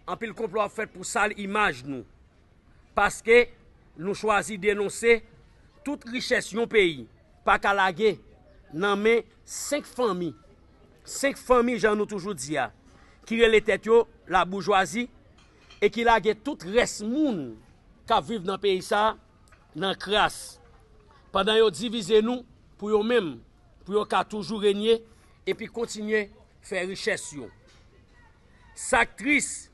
Anpil konplo ap fèt pou sal imaj nou paske nou chwazi denonse tout richès yon peyi pa ka lage nan men 5 fanmi, 5 fanmi jan nou toujou di a, ki rele tèt yo laboujwazi e ki lage tout rès moun k ap viv nan peyi sa nan kras pandan yo divize nou pou yo menm pou yo ka toujou renye epi kontinye fè richès yo. Sak tris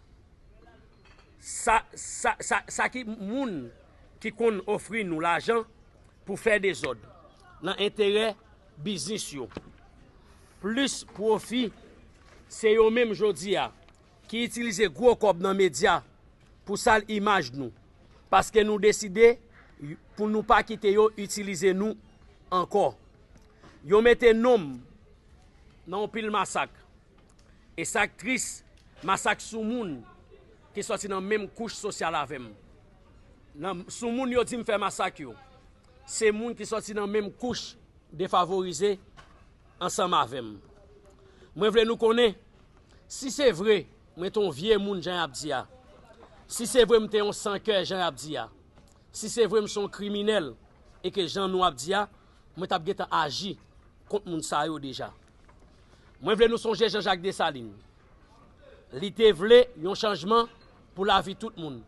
sa ki moun ki konn ofri nou lajan pou fè dezòd nan enterè biznis yo plis pwofi se yo menm jodi a ki itilize gwo kòb nan medya pou sal imaj nou paske nou deside pou nou pa kite yo itilize nou ankò yo mete nom nan yon pil masak. E sak tris, masak sou moun ki sòti nan menm kouch sosyal avèm. Nan sou moun yo dim fè masak yo, se moun ki sòti nan menm kouch defavorize ansanm avèm. Mwen vle nou konnen, si se vre mwen te yon vye moun jan yap di a, si se vre mte yon san kè jan yap di a, si se vre mse yon kriminèl e ke jan nou ap di a, mwen tap gentan aji kont moun sa yo deja. Mwen vle nou sonje Jean-Jacques Dessalines. Li te vle yon chanjman pou lavi tout moun.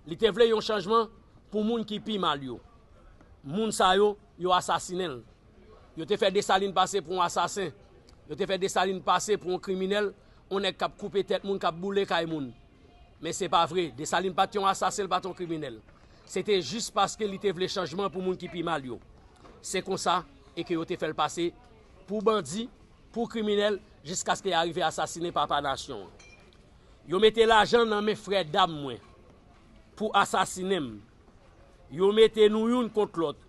Li te vle yon chanjman pou moun ki pi mal yo. Moun sa yo, yo asasinen l. Yo te fè Dessalines pase pou yon asasen. Yo te fè Dessalines pase pou yon kriminèl, yon nèg k ap koupe tèt moun, k ap boule kay moun. Men se pa vre, Dessalines pa t yon asasen, li pa t yon kriminèl. Se te jis paske li te vle chanjman pou moun ki pi mal yo. Se konsa e ke yo te fè l pase Pou bandi, pou kriminèl, jiskaske ya rive asasine papa nasyon an. Yo mete lajan nan men frè dam mwen pou asasine m. Yo mete nou youn kont lòt.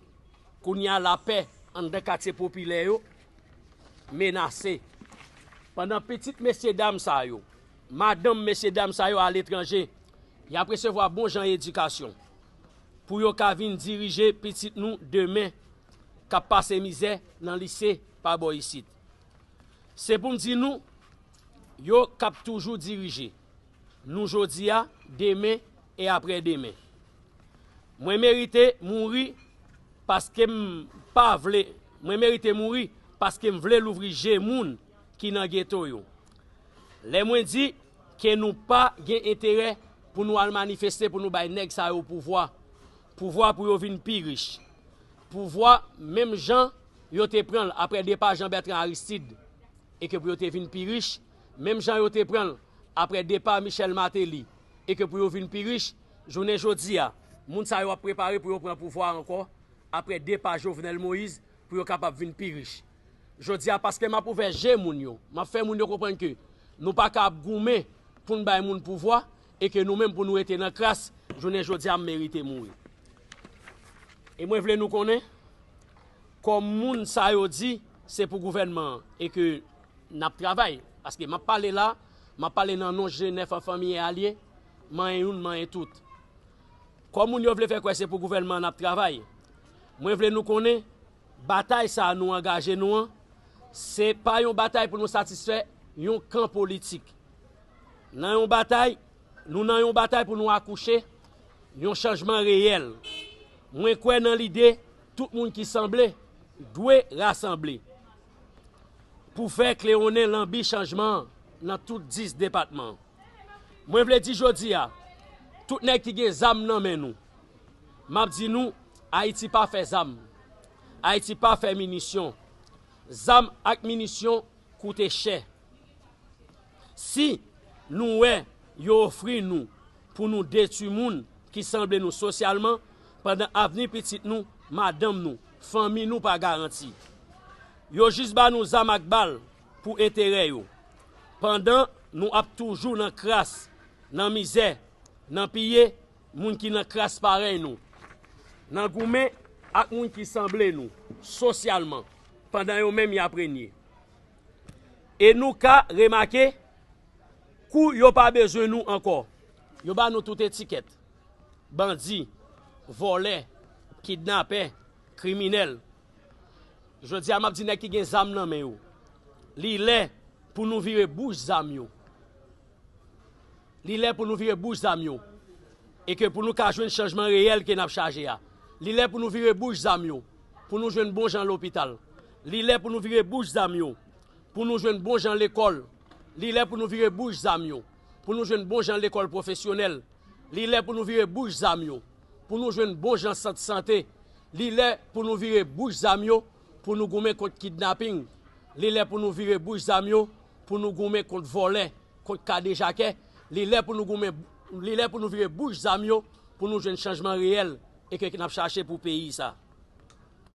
Kounya lapè anndan katye popilè yo menase. Pandan pitit mesye dam sa yo, madanm mesye dam sa yo aletranje, y ap resevwa bon jan edikasyon pou yo ka vin dirije pitit nou demen. k ap pase mizè nan lise pa bò isit. Se pou m di nou, yo k ap toujou dirije nou jodi a, demen e apre demen. Mwen merite mouri paske m pa vle, mwen merite mouri paske m vle louvri je moun ki nan geto yo. Lè mwen di ke nou pa gen enterè pou nou al manifeste pou nou bay nèg sa yo pouvwa, Pouvwa pou yo vin pi rich. Pouvwa menm jan yo te pran l apre depa Jean Bertrand Aristide e ke pou yo te vin pi rich menm jan yo te pran l apre depa Michel Martelly e ke pou yo vin pi rich jounen jodi a. Moun sa yo ap prepare pou yo pran pouvwa a ankò apre depa Jovenel Moïse pou yo kapab vin pi rich. Jodi a paske m ap ouvè je moun yo, m ap fè moun yo konprann ke nou pa ka ap goumen pou n bay moun pouvwa, E ke nou menm pou nou rete nan kras jounen jodi a m merite mouri. E mwen vle nou konnen, kòm moun sa yo di se pou gouvènman an e ke n ap travay, paske m ap pale la, m ap pale nan non G 9 an fanmi e alye, manyen youn manyen tout. Kòm moun yo vle fè kwè se pou gouvènman an n ap travay, mwen vle nou konnen batay sa a nou angaje nou an, se pa yon batay pou nou satisfè yon kan politik. Nan yon batay, Nou nan yon batay pou nou akouche yon chanjman reyèl. Mwen kwè nan lide tout moun ki sanble dwe rasanble pou fè klewonnen lanbi chanjman an nan tout 10 depatman. Mwen vle di jodi a, tout nèg ki gen zam nan men nou, m ap di nou, Ayiti pa fè zam, Ayiti pa fè minisyon. Zam ak minisyon koute chè. Si nou wè yo ofri nou pou nou detwi moun ki sanble nou sosyalman, pandan avni pitit nou, madanm nou, fanmi nou pa garanti. Yo jis ba nou zam ak bal pou enterè yo. Pandan nou ap toujou nan kras, nan mizè, nan piye moun ki nan kras parèy nou, nan goumen ak moun ki sanble nou sosyalman pandan yo menm y ap renye. e nou ka remake kou yo pa bezwen nou ankò. Yo ba nou tout etikèt, bandi, vòlè, kidnapè, kriminèl. Jodi a m ap di nèg ki gen zam nan men yo, li lè pou nou vire bouch zam yo, Li lè pou nou vire bouch zam yo e ke pou nou ka jwenn chanjman reyèl ke n ap chaje a. Li lè pou nou vire bouch zam yo pou nou jwenn bon jan lopital. Li lè pou nou vire bouch zam yo pou nou jwenn bon jan lekòl. Li lè pou nou vire bouch zam yo pou nou jwenn bon jan lekòl pwofesyonèl. Li lè pou nou vire bouch zam yo pou nou jwenn bon jan sant sante. Li lè pou nou vire bouch zam yo pou nou goumen kont kidnaping. Li lè pou nou vire bouch zam yo Pou nou goumen kont vòlè, kont kadejakè, li lè pou nou goumen, li lè pou nou vire bouch zam yo pou nou jwenn chanjman reyèl e ke n ap chache pou peyi sa a.